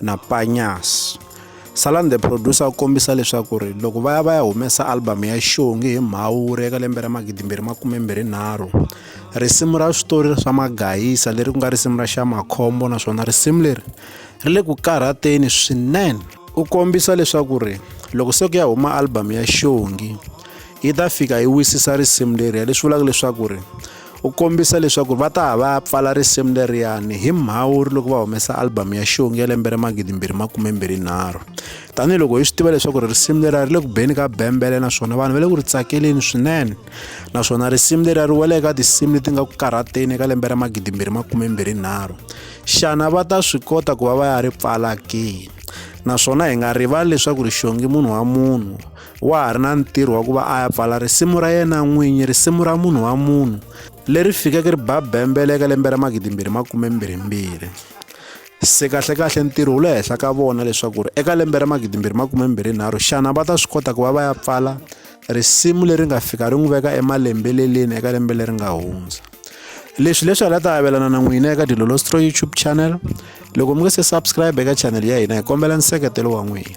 na Panyas. Salan the producer u kombisa leswaku ri loko va ya va ya humesa album ya xongi hi mhawuri eka lembe ra magidimbirhi makumembirhinharhu risimu ra switori swa magayisa leri ku nga risimu ra xa makhombo naswona risimu leri ri le ku karhateni swinene u kombisa leswaku ri loko se ku ya huma album ya xongi yi ta fika yi wisisa risimu leri ya leswi vulaka leswaku ri u kombisa leswaku va ta va ya pfala risimu leriyani hi mhawuri loko va humesa albhamu ya xongi ya lembe ra magidimbirhi makumembirhinharhu tanihiloko hi swi tiva leswaku risimu leriya ri le ku beni ka bembele naswona vanhu va le ku ri tsakeleni swinene naswona risimu leriya ri wele eka tinsimu leti nga ku karhateni eka lembe ra magidimbirhi makumembirhinharhu xana va ta swi kota ku va va ya ri pfala ke naswona hi nga rivali leswaku rixongi munhu wa munhu wa ha ri na ntirho wa ku va a ya pfala risimu ra yena n'winyi risimu ra munhu wa munhu leri fikeke ri ba bembele eka lembe ra magidimbirhi makume mbirhimbirhi se kahlekahle ntirho wu le henhla ka vona leswaku ri eka lembe ra magidimbirhi makume mbirhi nharhu xana va ta swi kota ku va va ya pfala risimu leri nga fika ri n'wi veka emalembeleleni eka lembe leri nga hundza leswi leswi hala ta avelana na n'wina eka dilolostro youtube channel loko mi nge se subscribe eka channel ya hina hi kombela nseketelo wa n'wina